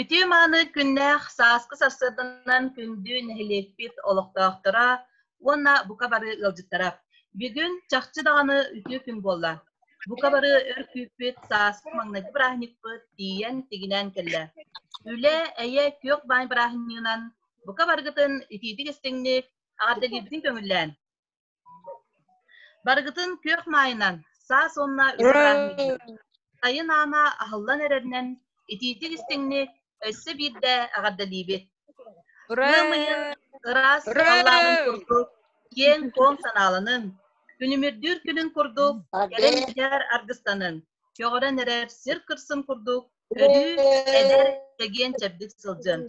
Үтүө-мааны күннээх сааскы сарсыарданан күндү нэһилиэкпит олохтоохторо уонна бука бары ыалдьыттара! Бүгүн чахчы даҕаны үтүө күн буолла. Бука бары өр күүппүт сааскы маҥнайгы бырааһынньыкпыт тиийэн тигинээн кэллэ. Үлэ, эйэ, күөх баай бырааһынньыгынан бука барыгытын итиитик-истиҥник, аҕардылыырбытын көҥүллээн! Барыгытын күөх маайынан, саас уонна испраздничник, сайын аана аһыллан эрэринэн, итиитик истиҥник өссө биирдэ эҕэрдэлиибит. Ыам ыйын ыраас саҕалааҕын курдук, киэҥ-куоҥ санааланын, күнүмүрдүүр күнүн курдук, кэлэн дьиһэр аргыстанын, көҕөрөн эрэр сир кырсын курдук, өрүү эдэр, чэгиэн-чэбдик сылдьын.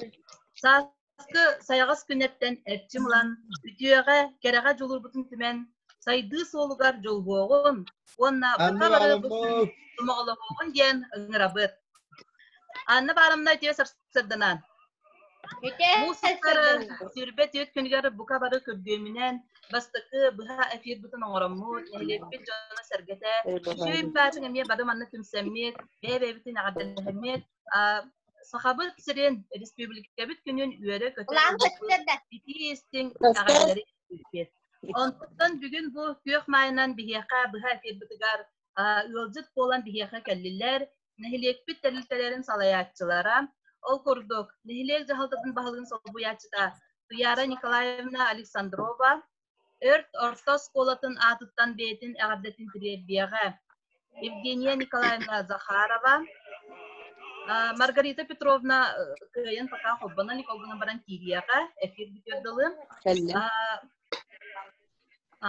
Саас сайаҕас күннэттэн эрчим ылан, үтүөҕэ, кэрэҕэ дьулуурбутун түмэн, сайдыы суолугар дьолбуоҕун уонна бука бары бу сомоҕолоһуоҕун диэн ыҥырабыт. Анна Барамна үтүө сарсыарданан. Муусукары сүүрбэ түөрт күнүгэр бука бары көрдүөмүнэн бастакы быһа эфирбытын оҥороммут, нэһилиэкпит дьоно-сэргэтэ, сүөй баатын эмиэ бары манна түмсэммит, бэйэ-бэйэбитин эҕэрдэлэһэммит, Сахабыт сирин республикабыт күнүн үөрэ-көтө итии-истиҥ итэҕэллэри Онтон бүгүн бу күөх майынан биһиэхэ быһа эфирбитигар ыалдьыт буолан биһиэхэ кэллилэр. Нэһилиэкпит тэрилтэлэрин салайааччылара, ол курдук нэһилиэк дьаһалтатын баһылыгын солбуйааччыта Туяра Николаевна Александрова, Өрт орто оскуолатын аатыттан бэйэтин эҕэрдэтин тириэрдиэҕэ. Евгения Николаевна Захарова, Маргарита Петровна кыайан пока холбонон иколбунан баран киириэҕэ эфир бүтөр дылы.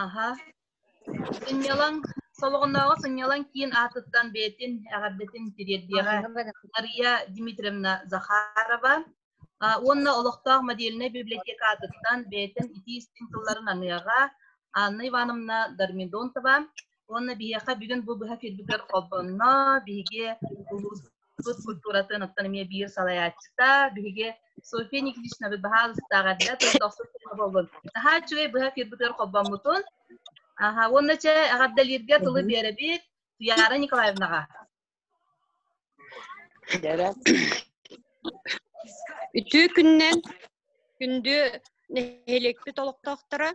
Аха. Сынньалаҥ солоҕоннооҕу сынньалаҥ киин аатыттан бэйэтин эҕэрдэтин тириэрдиэҕэ Мария Дмитриевна Захарова. уонна олохтоох модельнай библиотекатыттан бэйэтин итии-истиҥ тылларын аныаҕа Анна Ивановна Дормидонтова уонна биһиэхэ бүгүн бу быһа келбитэр холбонно биһиги улууспут культуратын оттон эмиэ биир салайааччыта биһиги София Никитичнабыт баһаалыстаах эрдэ тылы дохсут боллун наһаа үчүгэй быһа келбитэр холбоммутун уонна чэ эҕэрдэлииргэ тылы биэрэбит Туяра Николаевнаҕа Бэрэ. Үтүү күннэн күндү нэһилиэкпит олохтоохторо,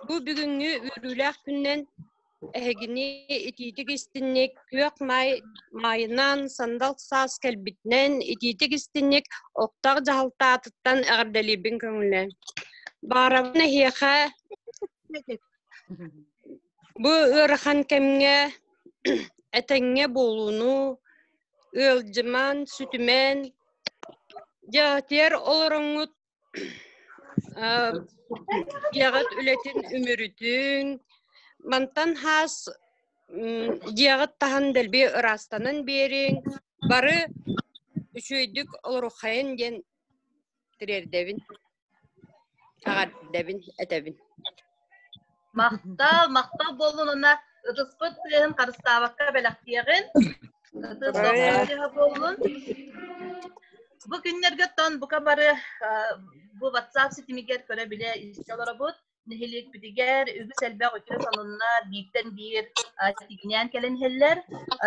бу бүгүҥҥү үөрүүлээх күннэн эһигини итиитик истинник күөх маай маайынан сандал саас кэлбитинэн итиитик истинник оттоох дьаһалтаатыттан эҕэрдэлиибин көҥүлэ. Баарабын эһиэхэ Бу ыарахан кэмҥэ этэҥҥэ буолууну ыалдьыман, сүтүмэн дьаатыйар олороҥҥут дьиэҕит үлэтин үмүрүтүн мантан хаас дьиэҕит таһан дэлби ыраастанан биэриҥ бары үчүгэйдик олоруоххайын диэн тириэрдэбин аҕардэбин этэбин махтал махтал буоллунуна ытыспыт тыаһын харыстаабакка бэлэхтиэҕин ытыс тыаһа буоллун бу күннэргэ тон бука бары бу ватсап ситимигэр көрө-билэ истэ олоробут нэһилиэкпитигэр үгүс элбэх үтүө сонуннар бииртэн биир ситиҥнээн кэлэн иһэллэр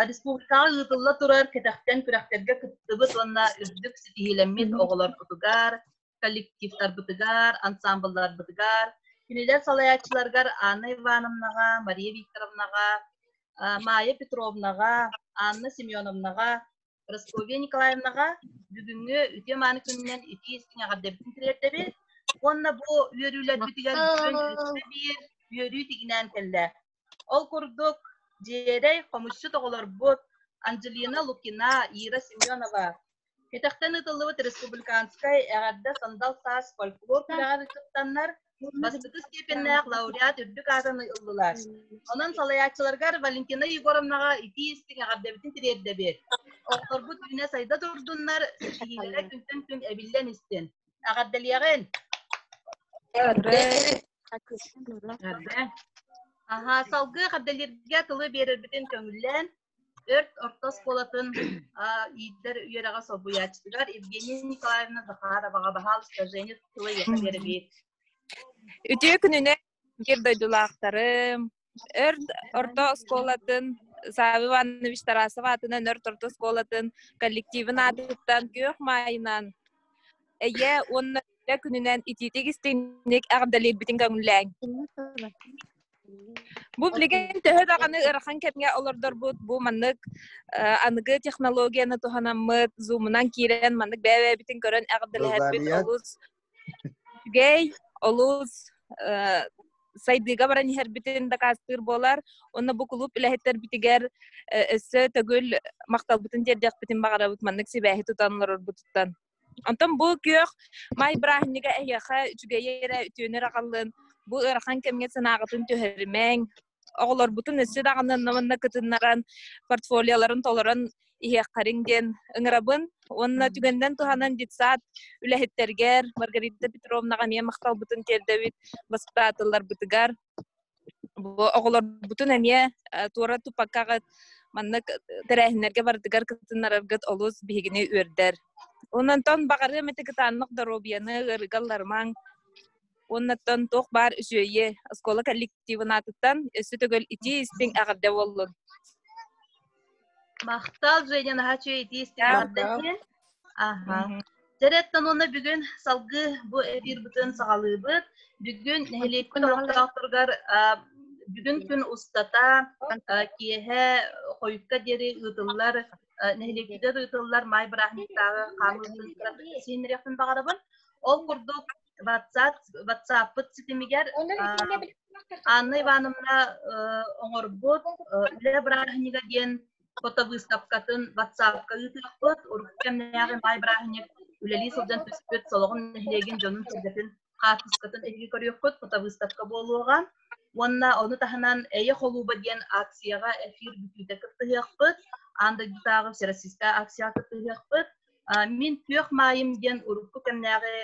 республикаҕа ыытылла турар кэтэхтэн күрэхтэргэ кыттыбыт уонна үрдүк ситиһиилэммит оҕолорбутугар коллективтарбытыгар ансамблларбытыгар кинилэр салайааччыларыгар Анна Ивановнаҕа Мария Викторовнаҕа Майя Петровнаҕа Анна Семеновнаҕа Прасковья Николаевнаҕа бүгүҥҥү үтүө-мааны күнүнэн итии-истиҥ эҕэрдэбитин тириэрдэбит уонна бу үөрүүлэрбитигэр бүтүн үстэ биир үөрүү тигинээн кэллэ. Ол курдук, дьиэрэй хомусчут оҕолорбут Анджелина Лукина, Ира Семенова Кэтэхтэн ыытыллыбыт республиканскай эҕэрдэ сандал саас фольклор күрэҕэр кыттаннар Бастакы степеннээх лауреат үрдүк аатын ыллылар. Онон салайааччыларгар Валентина Егоровнаҕа итии-истиҥ эҕэрдэбитин тириэрдэбит. Оҕолорбут үүнэ сайда турдуннар, ситиһиилэрэ күнтэн күн эбиллэн истин. Эҕэрдэлиэҕин! Аһаа, салгыы эҕэрдэлииргэ тылы биэрэрбитин көҥүллээн, Өрт орто оскуолатын иитэр үөрэҕэ солбуйааччытыгар Евгения Николаевна Захароваҕа баһаалыста Женя тылыйыха биэрбит. Үтүө күнүнэн биир дойдулаахтарым, Өрт орто оскуолатын Савва Иванович Тарасов аатынан Өрт орто оскуолатын коллективын аатыттан күөх маайынан Эйэ уонна Дэ күнүнэн итиитик истинник эҕэрдэлиирбитин көҥүллээҥ. Бу билигин төһө даҕаны ырахан кэмҥэ олордорбут бу маннык аныгы технологияны туһанаммыт зумунан киирэн маннык бэйэ-бэйэбитин көрөн эҕэрдэлэһэрбит олус үчүгэй, олус сайдыыга баран иһэрбитин дакаастыыр буолар. Онно бу кулууп үлэһиттэрбитигэр өссө төгүл махталбытын тиэрдиэхпитин баҕарабыт маннык сибээһи тутан олорорбутуттан. Онтон бу күөх май бырааһынньыга эһиэхэ үчүгэйи эрэ үтүөнү аҕаллын, бу ыарахан кэмҥэ санааҕытын түһэримэҥ, оҕолорбутун өссө даҕаны онно кытыннаран, портфолиоларын толорон иһиэххэриҥ диэн ыҥырабын уонна түгэннэн туһанан детсад үлэһиттэргэр Маргарита Петровнаҕа эмиэ махталбытын тиэрдэбит бастаатылларбытыгар. Бу оҕолорбутун эмиэ туора туппаккаҕыт маннык тэрээһиннэргэ бардыгар кытыннараргыт олус биһигини үөрдэр. Ононтон баҕарыам эти кытааннах доруобуйаны ыарыгалларымаҥ. Оннаттан туох баар үсүөйэ оскуола коллективын аатыттан өссө төгөл итии истиҥ эҕэрдэ буоллун. Махтал, Женя, наһаа үчүгэй итии истиэҕиттэн иһин. Аха. Дьэрэттэн уонна бүгүн салгыы бу эфир бытын саҕалыыбыт. Бүгүн нэһилиэкпит олохтоохторугар бүгүн күн устата киэһэ хойукка диэри ыытыллар нэһилиэкпитигэр ыытыллар маай бырааһынньыктааҕы хаамыытын сииннэриэхпин баҕарабын. Ол курдук ватсаппыт ситимигэр Анна Ивановна оҥорбут үлэ бырааһынньыга диэн фото выставкатын ватсапка ыытыахпыт урукку кэмнээҕи баай бырааһынньык үлэлии сылдьан түспүт Солоҕун нэһилиэгин дьонун сиргэтин хаартыскатын эһиги көрүөххүт фото выставка буолуоҕа уонна ону таһынан эйэ холууба диэн акцияҕа эфир бүтүүтэ кыттыһыахпыт аан дойдутааҕы всероссийскай акцияҕа кыттыһыахпыт Мин күөх маайым диэн урукку кэмнээҕи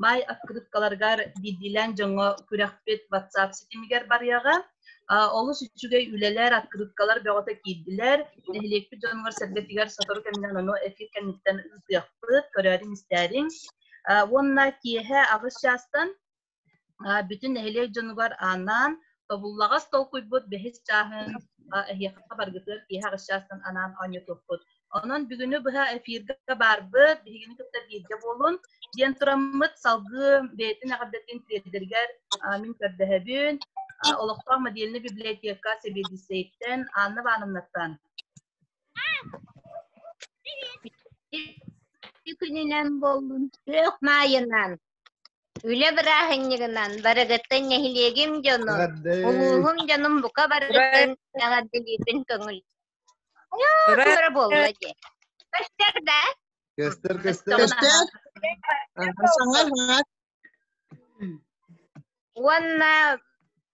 маай открыткаларыгар биирдиилээн дьоҥҥо күрэхпит WhatsApp ситимигэр барыаҕа. Олус үчүгэй үлэлэр, открыткалар бөҕөтө киирдилэр. Нэһилиэкпит дьонугар-сэргэтигэр сотору кэминэн ону эфир кэнниттэн ыытыахпыт, көрөөрүҥ-истээриҥ. Уонна киэһэ аҕыс чаастан бүтүн нэһилиэк дьонугар анаан тобуллаҕас толкуйбут бэһис чааһын эһиэхэ баргытыгар киэһэ аҕыс чаастан анаан оонньотуппут. Онон бүгүнү быһа эфиргэ барбыт, биһигини кытта бииргэ буолун, диэн тураммыт салгыы бэйэтин эҕэрдэтин тиэрдэригэр мин көрдөһөбүн. Олохтоох модельный библиотека Сэбиэдиссэйтэн Анна Ивановнаттан. Күнүнэн боллун, күөх маайынан. Үлэ бырааһынньыгынан барыгыттан нэһилиэгим дьонун, Эҕэрдэй! улууһум дьонун бука барыгыттан эҕэрдэлиирбин көҥүл. Ура! Ура буолла дии. Көстөр да? Көстөр, көстөр. Көстөр. Саҥар, Уонна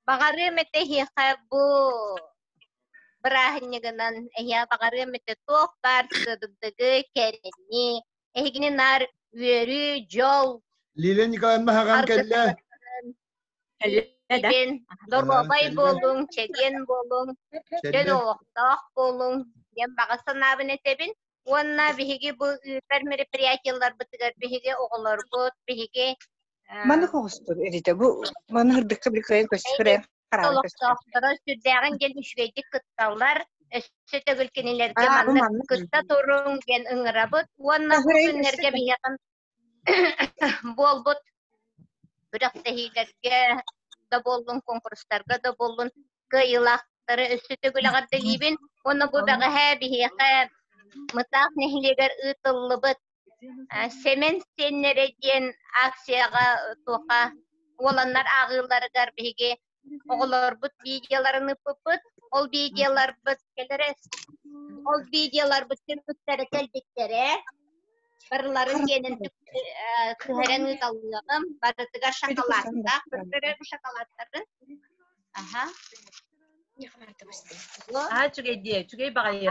баҕарыам этэ эһиэхэ бу бырааһынньыгынан эһиэхэ баҕарыам этэ туох баар сырдыгы, кэрэни, Эһигини нар үөрүү, дьол. Лилия Николаевна хаҕан кэллэ. Кэллэ доруобай буолуҥ, чэгиэн буолуҥ, дьон олохтоох буолуҥ диэн баҕа санаабын этэбин. Уонна биһиги бу ыытар мероприятиеларбытыгар биһиги оҕолорбут, биһиги Маны хоҕостур эритэ бу маны хырдыкка били кыайын көстүрэ хараан олохтоохторо сүрдээҕин диэн үчүгэйдик кытталлар өссө төгүл кинилэргэ маннык кытта туруҥ диэн ыҥырабыт уонна бу күннэргэ биһиэхин буолбут күрэхтэһиилэргэ да буоллун конкурстарга да буоллун кыайыылаахтары өссө төгүл эҕэрдэлиибин уонна бу бэҕэһээ биһиэхэ Мытаах нэһилиэгэр ыытыллыбыт Сэмэн сиэннэрэ диэн акцияҕа туоха уоланнар ааҕыыларыгар биһиги оҕолорбут видеоларын ыппыппыт. Ол видеоларбыт кэлэрэ ол видеоларбыт түмүктэрэ кэлбиттэрэ. Барыларын киэнин түһэрэн ыыталлыаҕым. Барытыгар шоколадтаах, көрөрөр шоколадтарын. Аха. Аа, үчүгэй диэ, үчүгэй баҕайы.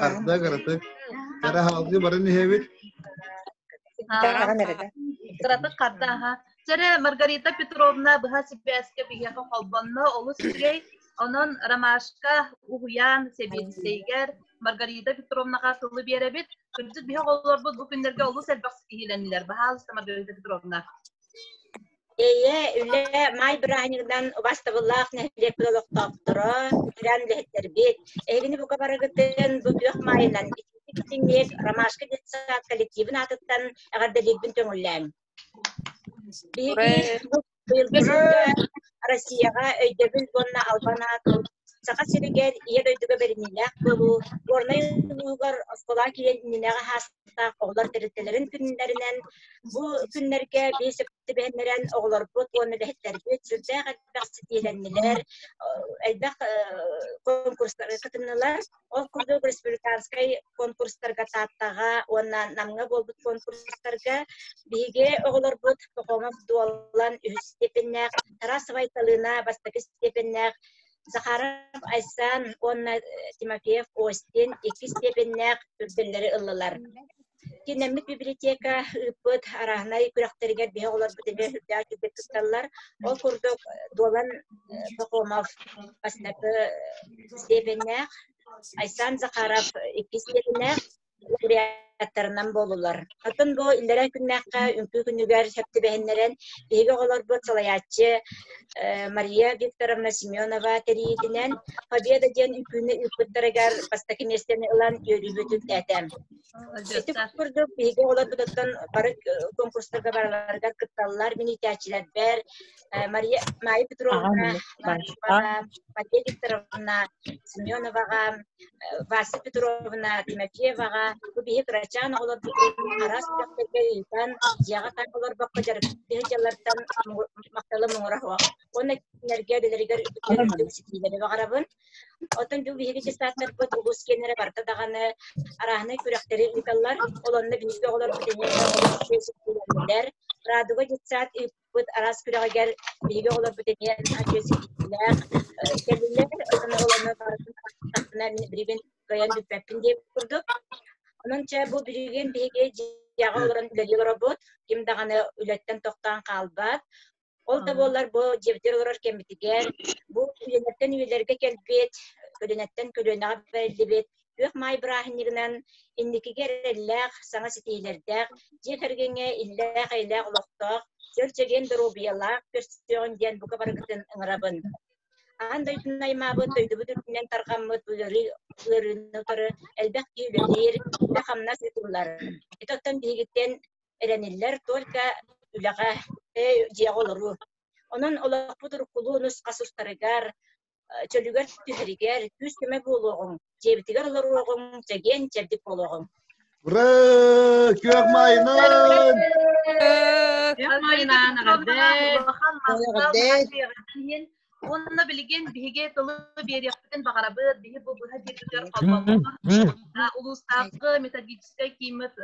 Хардак артык. Кара халгы баран иһэбит. Кыратык хардааха. Чэре Маргарита Петровна быһа сибээскэ биһиэхэ холбонно олус үчүгэй. Онон Ромашка уһуйаан сэбиэдиссэйгэр Маргарита Петровнаға тылы биэрэбит. Кырдьык биһэ олорбут бу күннэргэ олус элбэх киһилэннилэр. Баһаалыста Маргарита Петровна. Эйэ, үлэ маай бырааһынньыгынан убастабыллаах нэһилиэкпит олохтоохторо, ветеран үлэһиттэрбит, эһигини бука барыгытын бу күөх маайынан итинник Ромашка детсадка коллективын аатыттан эҕэрдэлиирбин көҥүллээҥ. Биһиги быйылгы сылга Россияҕа өйдөбүл уонна албан аатын Саха сиригэр ийэ дойдуга бэриниилээх буолуу Горнай улууһугар оскуола киининээҕи Оҕолор тэрилтэлэрин күннэринэн бу күннэргэ биэс түбэһиннэрэн оҕолорбут уонна үлэһиттэрбит сүрдээх элбэх ситиһилэннилэр, элбэх конкурстары кытыннылар. Ол курдук республиканскай конкурстарга Тааттаҕа уонна Намҥа буолбут конкурстарга биһиги оҕолорбут Пахомов Дуолан үһүс степеннээх, Тарасовай Талыына бастакы степеннээх Захаров Айсан уонна Тимофеев Остин иккис степеннээх үрдэллэри ыллылар. Киннэммит библиотека ыыппыт араһынай күрэхтэригэр биһи олорбут иһи үрдээх түрдэ тутталлар. Ол курдук Долан Пахомов бастакы степеннээх, Айсан Захаров иккис степеннээх, буряттарынан буолулар. Атын бу иллэрэ күннээххэ үҥкүү күнүгэр сөп түбэһиннэрэн биһиги оҕолорбут салайааччы Мария Викторовна Семенова тэрийитинэн Победа диэн үҥкүүнү ыыппыттарыгар бастакы миэстэни ылан үөрүүбүтүн этэм. Ити курдук биһиги оҕолорбутуттан бары конкурстарга бараларыгар кытталлар, миниитээччилэрбэр, Э, Мария, Мария Петровна, Машева, Мария Викторовна Семеноваҕа, э, Вася Петровна Тимофееваҕа, бу биһи кырачаан оҕолорбутун араас күрэхтэргэ ыытан, дьиэҕэ хам олорбокко дьарыктыһы дьаллартан махталы муҥураһыах. Уонна кинилэргэ үлэлэригэр ситиилэри баҕарабын. Оттон бу биһиги десанттарбыт улус киэннэрэ барта даҕаны арааһынай күрэхтэри ыыталлар. Олонно биһиги оҕолорбут эниэхэ радуга детсад быт араас күрэҕигэр биһиги оҕолорбут эмиэ наһаа ситиилээх кэллилэр оттон оҕолорну баҕатына билигин кыайан бүппэппин диэн курдук онон чэ бу билигин биһиги дьиэҕэ олорон үлэлии олоробут ким даҕаны үлэттэн тохтоон хаалбат ол да буоллар бу дьиэбитигэр олорор кэммитигэр бу көлүөнэттэн үйэлэргэ кэлбит көлүөнэттэн көлүөнэҕэ бэриллибит күөх маай бырааһынньыгынан инникигэ эрэллээх, саҥа ситиилэрдээх, дьиэ кэргэҥҥэ иллээх-эйэлээх олохтоох, чөр-чэгиэн доруобуйалаах көрсүөҕүн диэн бука барыгытын ыҥырабын. Аан дойдуну аймаабыт, дойдубут үрдүнэн тарҕаммыт ыарыы ыарыыны утары элбэх киһи үлэлиир, үлэ-хамнас ыытыллар. Ити оттон биһигиттэн эрэниллэр только үлэҕэ, дьиэҕэ олоруу. Онон олохпут уруккулуу нусхас устарыгар, чөлүгэр түһэригэр күүс көмө буолуоҕуҥ дьиэбитигэр олоруоҕуҥ чэгиэн чэбдик буолуоҕуҥ Ура! Күөх майынан! Күөх майынан Уонна билигин биһиги тылы биэриэхпитин баҕарабыт биһи бу быһа диэкитэр улуустааҕы методическай кииммит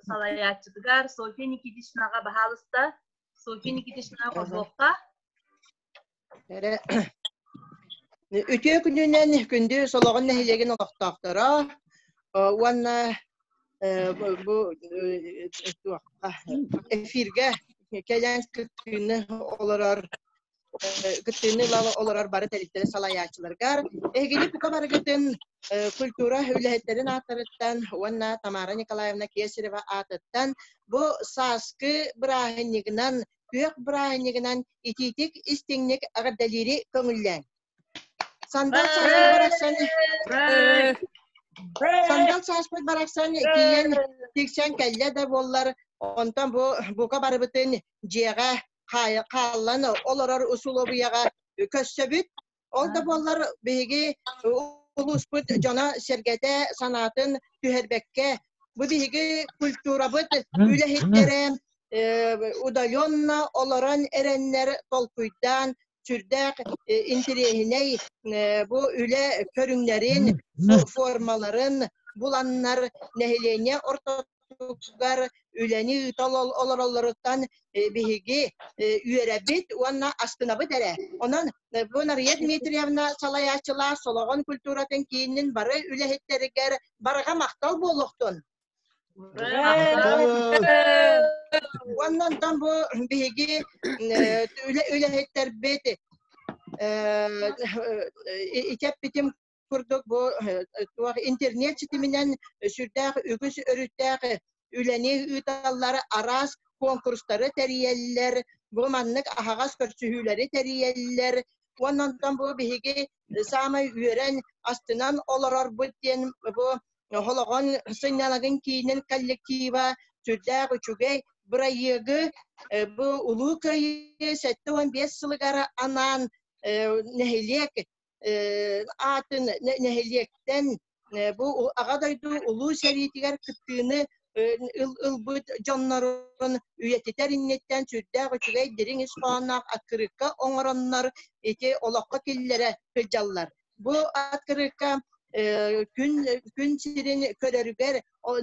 салайааччытыгар София Никитичнаҕа баһаалыста София Никитична Козловка Эрэ үтүө күнүнэн күндү Солоҕон нэһилиэгин олохтоохторо уонна бу эфиргэ кэлэн кыттыыны олорор кыттыыны ыла олорор бары тэрилтэри салайааччыларгар эһигини бука барыгытын культура үлэһиттэрин аатырыттан уонна Тамара Николаевна Кесарева аатыттан бу сааскы бырааһынньыгынан Күөх бырааһынньыгынан итиитик, истиҥник эҕэрдэлиири көҥүллээн. Сандал сааспыт барахсан Сандал сааспыт барахсан тиийэн тиксэн кэллэ да буоллар онтон бу бука барыбытын дьиэҕэ хааллан олорор усулуобуйаҕа көрсөбүт Ол да буоллар биһиги улууспут дьоно-сэргэтэ санаатын түһэрбэккэ бу биһиги культурабыт үлэһиттэрэ удаленно олорон эрэннэр толкуйдаан сүрдээх интириэһинэй бу үлэ көрүҥнэрин формаларын буланнар нэһилиэнньэ ортото тутуутугар үлэни ыыта олороллоруттан биһиги үөрэбит уонна астынабыт эрэ. Онон бу Нария Дмитриевна салайааччылар Солоҕон культуратын киинин бары үлэһиттэригэр барҕа махтал буолуохтун. Уонна онтон бу биһиги үлэһиттэрбит ичэппитим курдук бу туох интернет ситиминэн сүрдээх үгүс өрүттээх үлэни ыыталлар араас конкурстары тэрийэллэр бу маннык аһаҕас көрсүһүүлэри тэрийэллэр уонна онтон бу биһиги саамай үөрэн астынан олорорбут диэн бу Холоҕон сынньалаҥын киинин коллектива сүрдээх үчүгэй бырайыагы бу Улуу Кыайыы сэттэ уон биэс сылыгар анаан нэһилиэк аатын нэһилиэктэн бу аҕа дойду улуу сэриитигэр кыттыыны ылбыт дьоннорун үйэтитэр инниттэн сүрдээх үчүгэй дириҥ ис хоһоонноох открытка оҥороннор ити олоххо киллэрэ сылдьаллар. Бу открытка күн күн сирин көрөрүгэр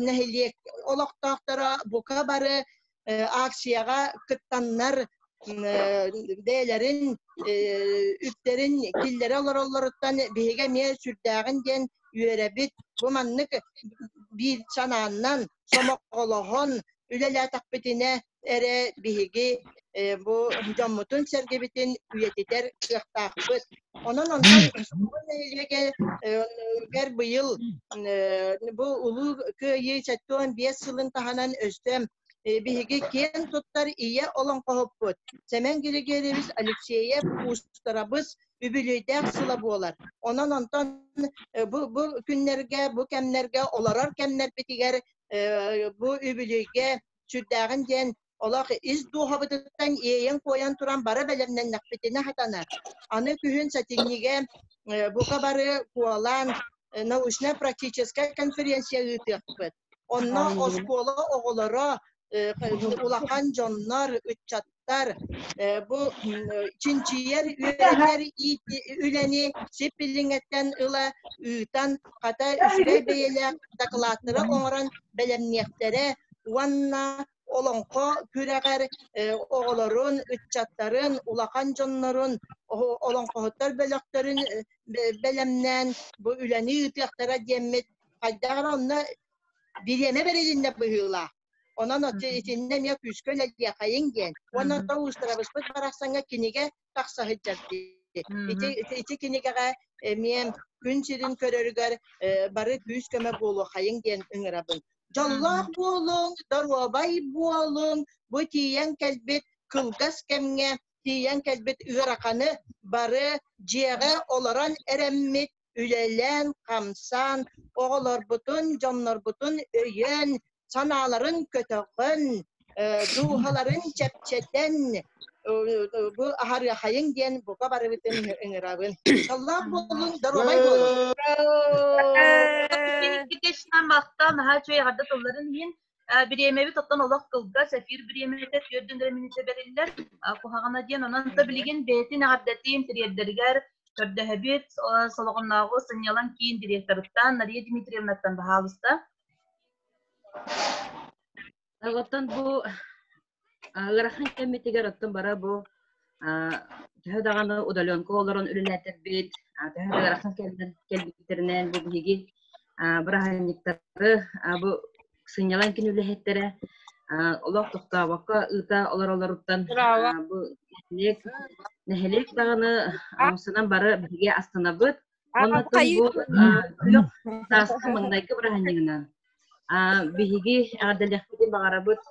нэһилиэк олохтоохторо бука бары акцияға кыттаннар бэйэлэрин үптэрин киллэрэ олороллоруттан биһиги эмиэ сүрдээҕин диэн үөрэбит бу маннык биир санааннан сомоҕолоһон үлэлээтэхпитинэ эрэ биһиги бу дьоммутун сэргибитин үйэтитэр кыахтаахпыт Онон онтон культура нэһилиэгэ быйыл бу Улуу Кыайыы сэттион биэс сылын таһынан өстө биһиги киэн туттар ийэ олоҥхоһуппут Сэмэн Григорьевич Алексеев уустарабыс үбүлүөйдээх сыла буолар. Онон онтон бу, бу күннэргэ, бу кэмнэргэ олорор кэмнэрбитигэр бу үбүлүөйгэ сүрдээҕин диэн Олох ис дууһабытыттан иэйэн-куойан туран бары бэлэмнэннэхпитинэ хатана, аны күһүн сэтинньигэ бука бары куолаан научнай-практическай конференция ыытыахпыт. Онно оскуола оҕолоро, улахан дьоннор, ыччаттар бу чинчийэр, үөрэтэр үлэни сип билиҥэттэн ыла ыытан, хата үчүгэй бэйэлээх дакылааттары оҥорон бэлэмниэхтэрэ уонна олоҥхо күрэҕэр оҕолорун, ыччаттарын, улахан дьоннорун, олоҥхоһуттар бөлөхтөрүн бэлэмнээн бу үлэни ыытыахтара диэммит хайдах эрэ онно бириэмэ бэрилиннэ быһыылаах. Онон итиннэ эмиэ күүскэ үлэлиэхэйин диэн. Уонна то устарабыспыт барахсаҥҥа кинигэ тахса сылдьар дии. Ити ити кинигэҕэ эмиэн күн сирин көрөрүгэр бары күүс-көмө буолуохайың диэн ыҥырабын. Дьоллоох буолуҥ, доруобай буолуҥ, бу тиийэн кэлбит кылгас кэмҥэ тиийэн кэлбит ыараханы бары дьиэҕэ олорон эрэммит үлэлээн, хамсаан, оҕолорбутун, дьоннорбутун өйөөн, санааларын көтөҕөн, дууһаларын чэпчэтэн, бу аһарыахайын диэн бука барыбытын ыҥырабын. Саллаах буолун, доруобай буолун. Махтал, наһаа үчүгэй эҕэрдэ тылларын иһин. бириэмэбит оттон олох кылгас, эфир бириэмэтэ түөрт дэнэрэ мүнүүтэ бэриллэр, куһаҕана диэн, онон да билигин бэйэтин эҕэрдэтиин тириэрдэригэр көрдөһөбүт, Солоҕоннооҕу сынньалаҥ киин директорыттан Нария Дмитриевнаттан баһаалыста. Оттон бу ыарахан кэммитигэр оттон бара бу төһө даҕаны удаленка олорон үлэлээтэрбит төһө да ыарахан кэмнэн кэлбиттэринэн бу биһиги бырааһынньыктары бу сынньалаҥ күн үлэһиттэрэ олох тохтообокко ыыта олоролоруттан бу нэһилиэк нэһилиэк даҕаны омсунан бары биһиги астынабыт Маннатын бу сааска маҥнайгы быраһынньыгынан биһиги эҕэрдэлэхпитин баҕарабыт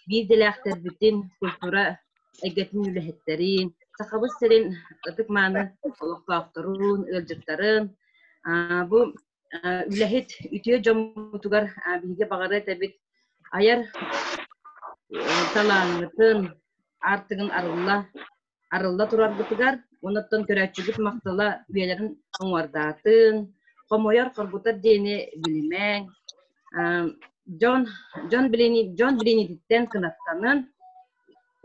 биир дэлээхтэрбитин, культура эйгэтин үлэһиттэрин, Сахабыт сирин ытык-мааны олохтоохторун, ыалдьыттарын, бу үлэһит үтүө дьоммутугар биһиги баҕара этэбит айар талааҥҥытын, аартыгын арылла арылла тураргытыгар, онуттан көрөөччүгүт махтала үйэлэрин оҥордаатын, хомойор, хоргутар диэни билимэҥ, дьон, дьон билини, дьон билиниттэн кынаттанын,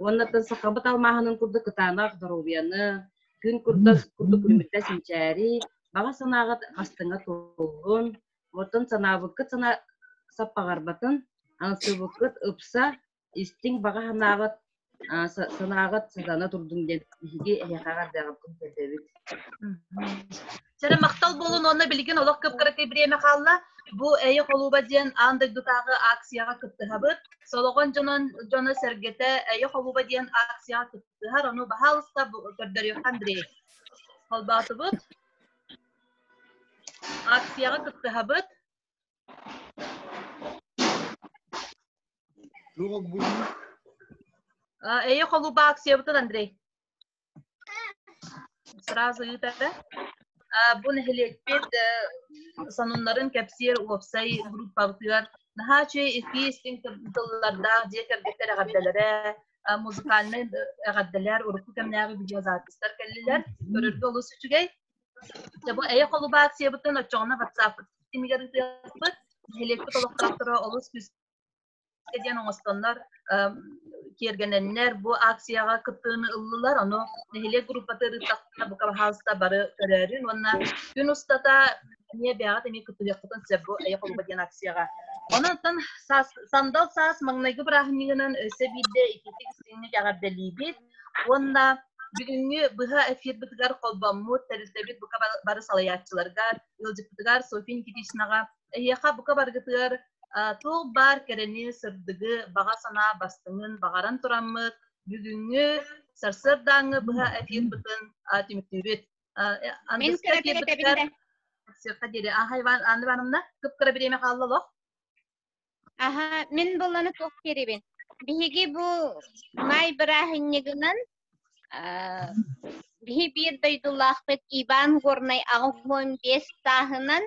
уоннаттан сахабыт алмааһынын курдук кытаанах доруобуйаны, күн курдас курдук күлүмүттэ синчээри, баҕа санааҕыт бастыҥа туоллун, оттон санаабыккыт сана саппаҕарбатын, аңсыыбыккыт ыпса, истиҥ баҕа санаабыт санааҕыт сатана турдун диэн биһиги эһиэхэ эрдэҕиттэн көрдөбүт сэрэ махтал буолун уонна билигин олох кып-кыракый бриэмэ хаалла бу эйэ холууба диэн аан дойдутааҕы акцияҕа кыттыһабыт солоҕон дьонон дьоно сэргэтэ эйэ холууба диэн акцияҕа кыттыһар ону баһаалыста көрдөрүөххэ андрей холбоотубут акцияҕа кыттыһабыт Эйе холуба аксиябытын Андрей. Сразу ыытары. Бу нэһилиэкпит сонуннарын кэпсиэр уопсай группабытыгар наһаа үчүгэй икки истиҥ тыллардаах дьиэ кэргэттэр эҕэрдэлэрэ, музыкальнай эҕэрдэлэр, урукку кэмнээҕи видеозаписьтар кэллилэр. Көрөргө олус үчүгэй. Дьэ бу эйэ холубациябытын оччоҕуна ватсаппыт симигэр ытыахпыт. Нэһилиэкпит олохтоохторо олус күүскэ диэн оҥостоннор киэргэнэннэр бу акцияҕа кыттыыны ыллылар. Ону нэһилиэк группатыыр ырыттахтарына бука баһаалыста бары көрөөрүн уонна күн устата эмиэ бэйэҕит эмиэ кыттыһыаххытын сөп бу Эйэ холуба диэн акцияҕа. Онон сандал саас маҥнайгы бырааһынньыгынан өссө биирдэ итиитик истиҥник эҕэрдэлиибит. Уонна бүгүҥҥү быһа эфирбитигэр холбоммут, тэрилтэбит бука бары салайааччыларга, ыалдьыппытыгар София Никитичнаҕа, эһиэхэ бука баргытыгар туох баар кэрэни, сырдыгы, баҕа санаа бастыҥын баҕаран тураммыт бүгүҥҥү сарсыардааҥҥы быһа эфирбытын түмтүүбүт. Мин кыра эфирбитигэр диэри Аха Иван Анна Ивановна, кып-кыра бириэмэ хаалла олох. Аха, мин буланы туох кирибин. Биһиги бу маай бырааһынньыгынан биһи биир дойдулаахпыт Иван Горнай аҕыс уон биэс сааһынан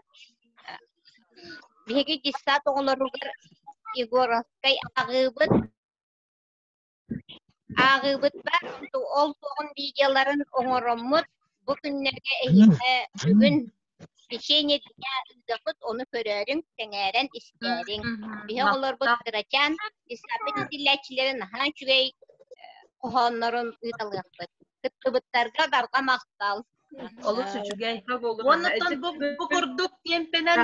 биһиги десант оҕолоругар Егоровскай аҕыыбыт Ааҕыыбытбар ол туоҕун видеоларын оҥороммут. Бу күннэргэ эһиэхэ бүгүн Священие дня ыыдахыт, ону көрөөрүҥ, сэҥээрэн, истээриҥ. Биһи оҕолорбут кырачаан дисабет итиллээччилэрин наһаа үчүгэй хоһооннорун ыыталыахпыт. Кыттыбыттарга барҕа махтал. Олус үчүгэй. Уоннаттан бу курдук кемпенэн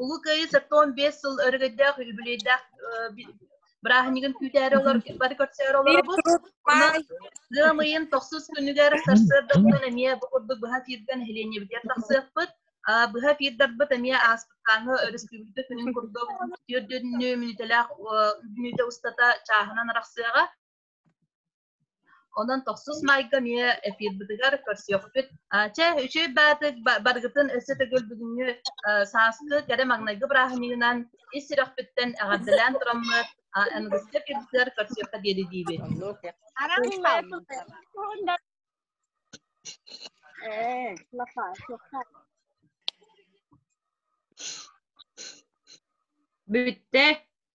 Улуу Кыайыы сотон бес сыл өрөгөйдөөх үбүлүйдээх бырааһынньыгын күүтээри олор бары көрсөөр олоробут. Ыамыйын тохсус күнүгэр сарсыардаттан эмиэ бу курдук быһа тиирдэн нэһилиэнньэбитигэр тахсыахпыт. Быһа тиирдэрбит эмиэ ааспыттааҥы өрөспүүбүлүкэ күнүн курдук түөрт мүнүүтэлээх мүнүүтэ устата чааһынан арахсыаҕа. Онон тохсус майга эмиэ эфирбытыгар көрсүөхпүт. Чэ, үчүй баатык барыгытын өссө төгүл бүгүҥҥү сааскы кэрэ маҥнайгы бырааһынньыгынан ис сүрэхпиттэн эҕэрдэлээн тураммыт Аныгыскы эфирдэр көрсүөххэ диэри диибит. Бүттэ.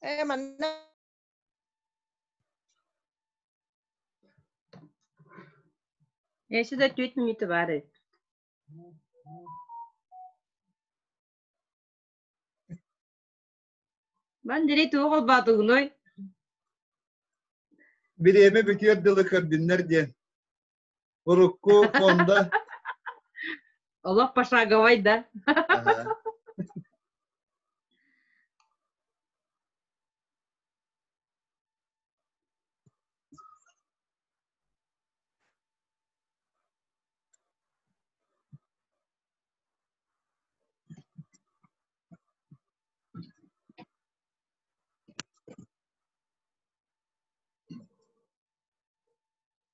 Э, манна Я сюда чуть не товары. Мандери туох албаатыгыной? Бириэмэ бүтүөр дылы көрдүннэр диэн. Урукку Фонда. Олох пошаговой, да?